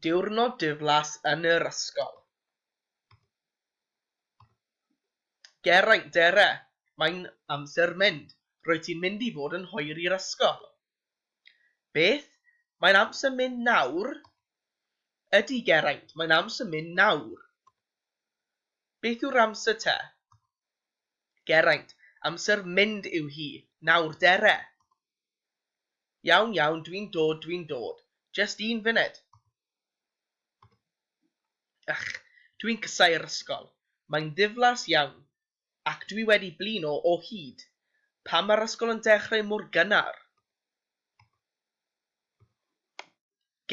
Diwrnod diflas yn yr ysgol. Geraint, Dere, mae'n amser mynd, rwyt ti'n mynd i fod yn hoer i'r ysgol. Beth? Mae'n amser mynd nawr? Ydy, Geraint, mae'n amser mynd nawr. Beth yw'r amser te? Geraint, Amser mynd yw hi, nawr, Dere. Iawn, iawn, dwi'n dod, dwi'n dod. Jest un funed! Ych, dwi'n casau'r ysgol. Mae'n ddiflas iawn. Ac dwi wedi blino o hyd. Pam mae'r ysgol yn dechrau mor gynnar?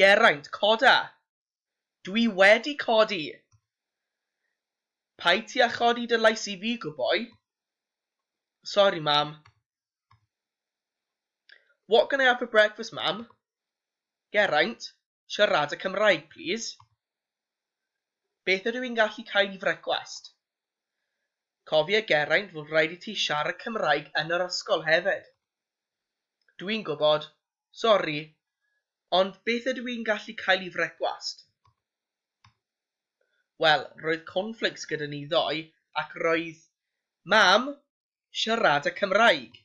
Geraint, coda! Dwi wedi codi! Paid ti a chodi dy lais i fi, good boy. Sorry, mam. What can I have for breakfast, mam? Geraint, siarada Cymraeg, plîs. Beth ydw i'n gallu cael i frecwast? Cofia Geraint fod rhaid i ti siarad Cymraeg yn yr ysgol hefyd. Dwi'n gwybod, Sori, ond beth ydw i'n gallu cael i frecwast? Wel, roedd cornflakes gyda ni ddoe ac roedd Mam siarad y Cymraeg.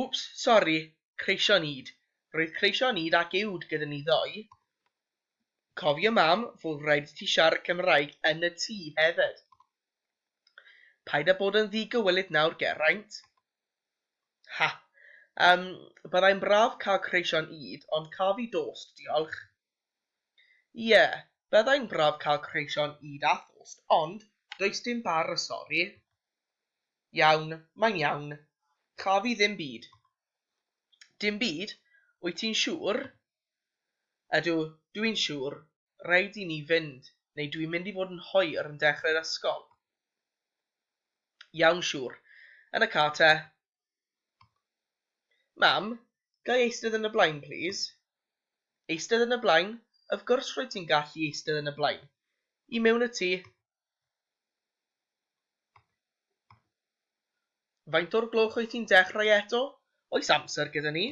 Wps, sori, creision ŷd. Roedd creision ŷd ac uwd gyda ni ddoe. Cofia Mam, fod rhaid i ti siarad Cymraeg yn y tŷ hefyd. Paid â bod yn ddi-gywilydd nawr, Geraint. Ha! Yym, byddai'n braf cael creision ŷd, ond caf i dost, diolch. Ie, byddai'n braf cael creision ŷd a thost, ond does dim bar, sori. Iawn, mae'n iawn. Caf i ddim byd. Dim byd? Wyt ti'n siŵr? Ydw, dw i'n siŵr. Rhaid i ni fynd, neu dwi'n mynd i fod yn hoer yn dechrau'r ysgol. Iawn, siŵr. Yn y car te. Mam, ga i eistedd yn y blaen, plîs? Eistedd yn y blaen? Of gwrs rwyt ti'n gallu eistedd yn y blaen. I mewn y tŷ. Faint o'r gloch wyt ti'n dechrau eto? Oes amser gyda ni?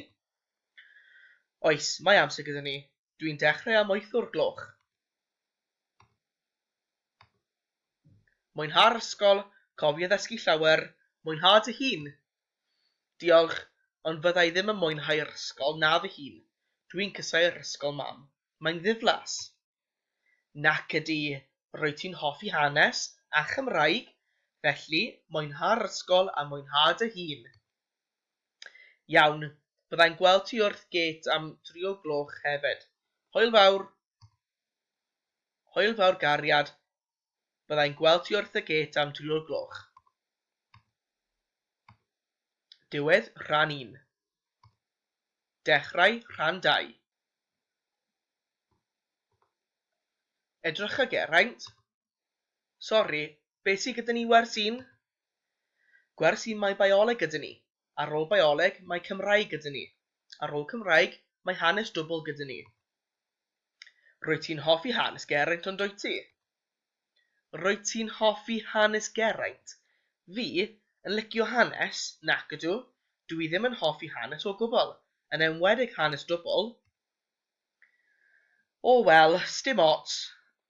Oes, mae amser gyda ni. Dwi'n dechrau am wytho'r gloch. Mwynha'r ysgol, cofia ddysgu llawer, mwynha dy hun! Diolch, ond fydda i ddim yn mwynhau'r ysgol na fy hun. Dwi'n casau'r ysgol, Mam. Mae'n ddiflas. Nac ydy, rwyt ti'n hoffi hanes a Chymraeg, felly mwynha'r ysgol a mwynha dy hun! Iawn, byddai'n gweld ti wrth gêt am dri o gloch hefyd. Hwyl fawr! Hwyl fawr gariad, byddai'n gweld ti wrth y gêt am dri o gloch. Diwedd rhan un. Dechrau rhan dau. Edrycha Geraint, Sori, beth sydd gyda ni wers un? Gwers un mae Bioleg gyda ni. Ar ôl Bioleg mae Cymraeg gyda ni. Ar ôl Cymraeg mae Hanes Dwbwl gyda ni. Rwyt ti'n hoffi Hanes Geraint ond dwyt ti? Rwyt ti'n hoffi Hanes Geraint? Fi? Yn licio Hanes? Nac ydw. Dw i ddim yn hoffi Hanes o gwbl. Yn enwedig Hanes Dwbwl. O wel, sdim ots.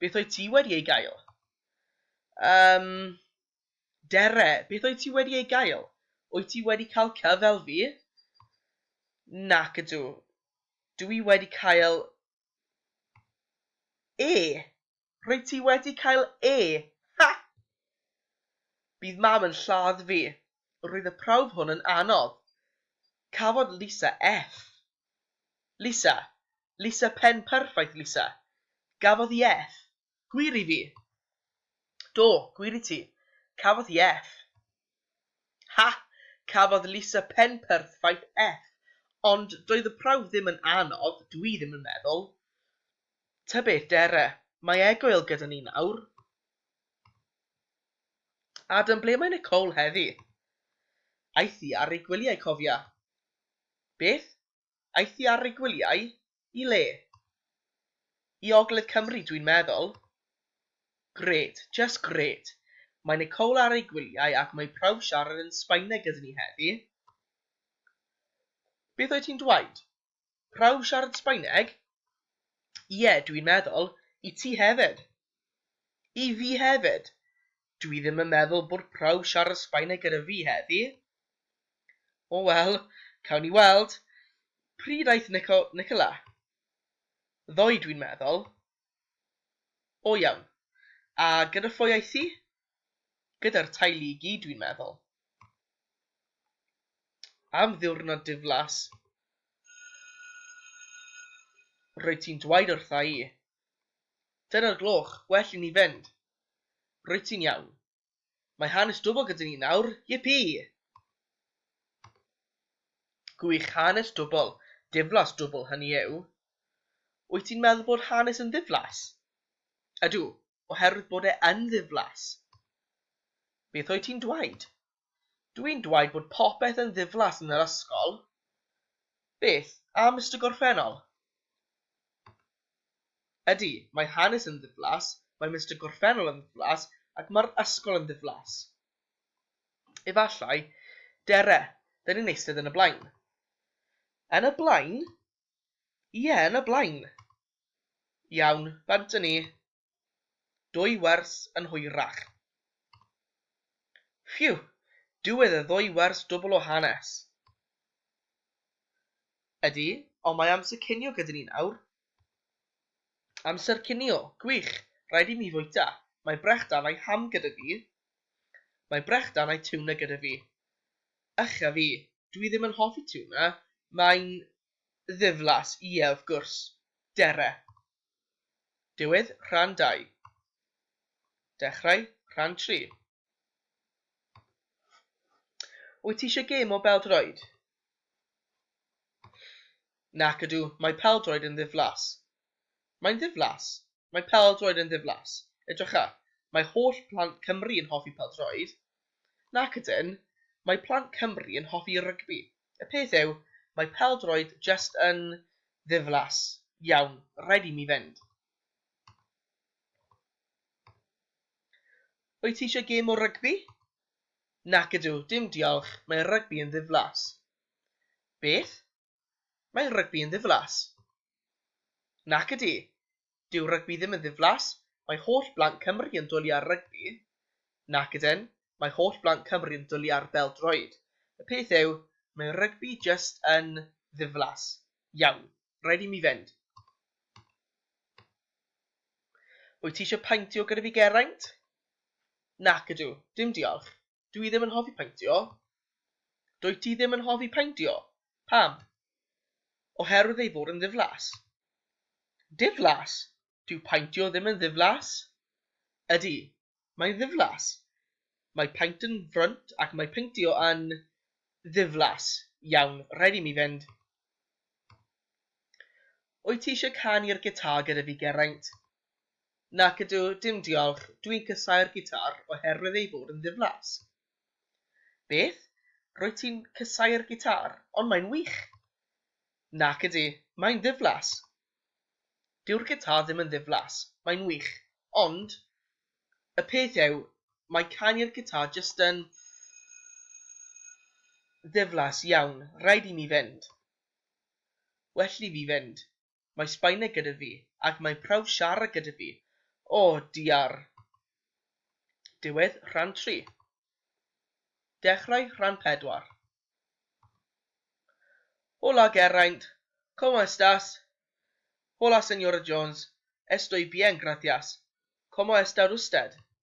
Beth oedd ti wedi ei gael? Um, Dere, beth oedd ti wedi ei gael? Wyt ti wedi cael cyf fel fi? Nac ydw. Dw i wedi cael E. Rwyt ti wedi cael E. Ha! Bydd mam yn lladd fi. Roedd y prawf hwn yn anodd. Cafodd Lisa F. Lisa! Lisa pen perffaith Lisa! Gafodd i Eff! Gwir i fi! Do, gwir i ti! Cafodd i Eff! Ha! Cafodd Lisa pen perth faith Eff! Ond doedd y prawf ddim yn anodd, dw i ddim yn meddwl. Ta beth Dere, mae Egoel gyda ni nawr. Adam, ble mae Nicole heddi? Aeth i ar ei gwyliau cofia. Beth? Aeth hi ar ei gwyliau? I le? I ogledd Cymru dwi'n meddwl. Gret, just gret. Mae Nicole ar ei gwyliau ac mae prawf siarad yn Sbaeneg gyda ni heddi. Beth oedd ti'n dwaud? Prawf siarad Sbaeneg? Ie, dwi'n meddwl, i ti hefyd. I fi hefyd. Dwi ddim yn meddwl bod prawf siarad Sbaeneg gyda fi heddi. O wel, cawn ni weld. Pryd aeth Nico, Nicola? Ddoe dwi'n meddwl. O iawn. A gyda phwy aeth hi? Gyda'r teulu i gyd dwi'n meddwl. Am ddiwrnod diflas. Roedd ti'n dweud wrtha i. Dyna'r gloch, well i ni fynd. Rwyt ti'n iawn. Mae hanes dwbl gyda ni nawr, yippee! Gwych, hanes dwbl, diflas dwbl hynny yw. Wyt ti'n meddwl bod hanes yn ddiflas? Ydw, oherwydd bod e yn ddiflas. Beth wyt ti'n dwaud? Dwi'n dweud bod popeth yn ddiflas yn yr ysgol. Beth am Mister Gorffennol? Ydy, mae hanes yn ddiflas, mae Mister Gorffennol yn ddiflas ac mae'r ysgol yn ddiflas. Efallai, Dere, 'dyn ni'n eistedd yn y blaen. Yn y blaen? Ie, yn y blaen. Iawn, bant â ni. Dwy wers yn hwyrach. Phew! Diwedd y ddwy wers dwbl o hanes. Ydy, ond mae amser cinio gyda ni nawr. Amser cinio, gwych! Rhaid i mi fwyta. Mae brechdan a'i ham gyda fi. Mae brechdan a'i tiwna gyda fi. Ych a fi, dwi ddim yn hoffi tiwna, mae'n ddiflas, ie, wrth gwrs. Dere. Diwedd rhan dau. Dechrau rhan tri. Wyt ti eisiau gêm o bêl-droed? Nac ydw, mae pêl-droed yn ddiflas. Mae'n ddiflas. Mae pêl-droed yn ddiflas. Edrycha, mae holl plant Cymru yn hoffi pêl-droed. Nac ydyn, mae plant Cymru yn hoffi rygbi. Y peth yw, mae pêl-droed jyst yn ddiflas. Iawn, rhaid i mi fynd. Wyt ti eisiau gêm o rygbi? Nac ydw, dim diolch, mae rygbi yn ddiflas. Beth? Mae rygbi yn ddiflas. Nac ydy. Dyw rygbi ddim yn ddiflas, mae holl blant Cymru yn dwli ar rygbi. Nac ydyn, mae holl blant Cymru yn dwli ar bêl-droed. Y peth yw, mae rygbi jyst yn ddiflas. Iawn, rhaid i mi fynd. Wyt ti eisiau paentio gyda fi Geraint? Nac ydw, dim diolch. Dw i ddim yn hoffi paentio. Dwyt ti ddim yn hoffi paentio. Pam? Oherwydd ei fod yn ddiflas. Diflas? Dyw paentio ddim yn ddiflas. Ydy, mae'n ddiflas. Mae paent yn frwnt ac mae paentio yn ddiflas. Iawn, rhaid i mi fynd. Wyt ti eisiau canu'r gitar gyda fi, Geraint? Nac ydw, dim diolch, dwi'n casáu'r gitar oherwydd ei fod yn ddiflas. Beth? Rwyt ti'n casáu'r gitar? Ond mae'n wych! Nac ydy, mae'n ddiflas. Dyw'r gitar ddim yn ddiflas, mae'n wych, ond y peth yw, mae canu'r gitar jyst yn ddiflas iawn, rhaid i mi fynd. Well i fi fynd. Mae Sbaeneg gyda fi, ac mae'n prawf siarad gyda fi. O, diar! Diwedd rhan tri. Dechrau rhan pedwar. Hola Geraint, como estás? Hola Señora Jones, estoy bien, gracias. Como está usted?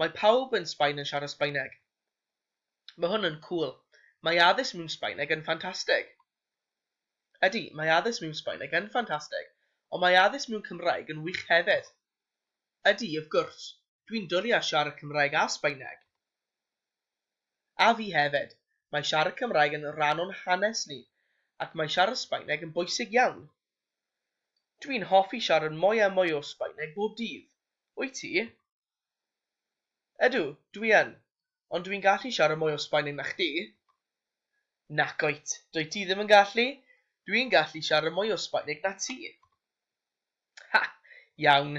Mae pawb yn Sbaen yn siarad Sbaeneg. Mae hwn yn cŵl. Mae addysg mewn Sbaeneg yn ffantastig. Ydy, mae addysg mewn Sbaeneg yn ffantastig, ond mae addysg mewn Cymraeg yn wych hefyd. Ydy, of gwrs, dwi'n dwlu ar siarad Cymraeg a Sbaeneg. A fi hefyd. Mae siarad Cymraeg yn rhan o'n hanes ni, ac mae siarad Sbaeneg yn bwysig iawn. Dwi'n hoffi siarad mwy a mwy o Sbaeneg bob dydd. Wyt ti? Ydw, dwi yn. Ond dwi'n gallu siarad mwy o Sbaeneg na chdi. Nac wyt, dwyt ti ddim yn gallu. Dwi'n gallu siarad mwy o Sbaeneg na ti. Ha! Iawn.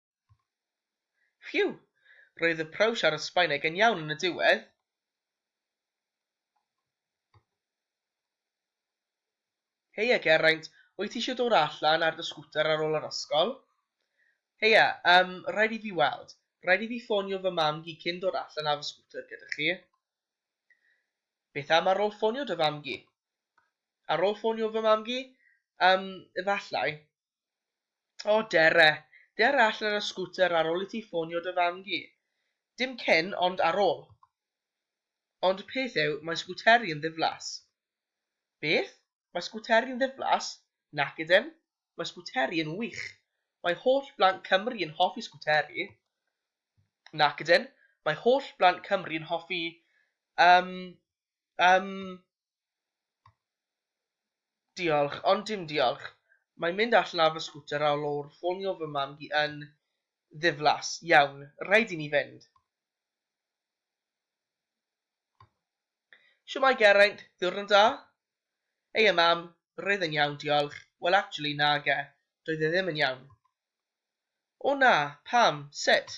Ffîw! Roedd y prawf siarad Sbaeneg yn iawn yn y diwedd. Heia Geraint, wyt ti eisiau dod allan ar dy sgwter ar ôl yr ysgol? Heia, yym, rhaid i fi weld. Rhaid i fi ffonio fy mam-gu cyn dod allan ar fy sgwter gyda chi. Beth am ar ôl ffonio dy fam-gu? Ar ôl ffonio fy mam-gu? Yym, efallai. O Dere, der allan ar y sgwter ar ol i ti ffonio dy fam gi. Dim cyn, ond ar ol. Ond y peth yw, mae sgwteri yn ddiflas. Beth? Mae sgwteri yn ddiflas? Nac ydyn. Mae sgwteri yn wych. Mae holl blant Cymru yn hoffi sgwteri. Nac ydyn. Mae holl blant Cymru yn hoffi, yym, yym, Diolch, ond dim diolch. Mae mynd allan ar fy sgwter ar ôl ffonio fy mam hi yn ddiflas. Iawn, rhaid i mi fynd. Shwmae Geraint, ddiwrnod da? Heia mam, roedd e'n iawn diolch. Wel actually nage, doedd e ddim yn iawn. O na, pam, sut?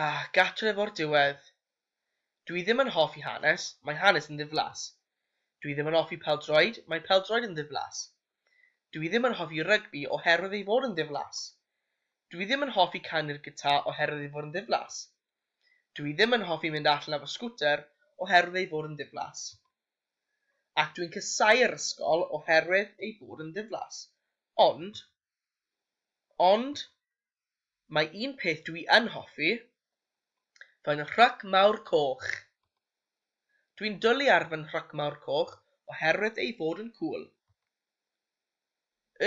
Ah, gartref o'r diwedd. Dwi ddim yn hoffi hanes, mae hanes yn ddiflas. Dwi ddim yn hoffi pêl-droed, mae pêl-droed yn ddiflas. Dwi ddim yn hoffi rygbi oherwydd ei fod yn ddiflas. Dwi ddim yn hoffi canu'r gitar oherwydd ei fod yn ddiflas. Dwi ddim yn hoffi mynd allan ar fy sgwter oherwydd ei fod yn ddiflas. Ac dwi'n casau'r ysgol oherwydd ei bod yn ddiflas. Ond, ond, mae un peth dwi yn hoffi, fy nhruc mawr coch. Dwi'n dwlu ar fy nhruc mawr coch oherwydd ei fod yn cŵl.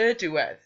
Y diwedd.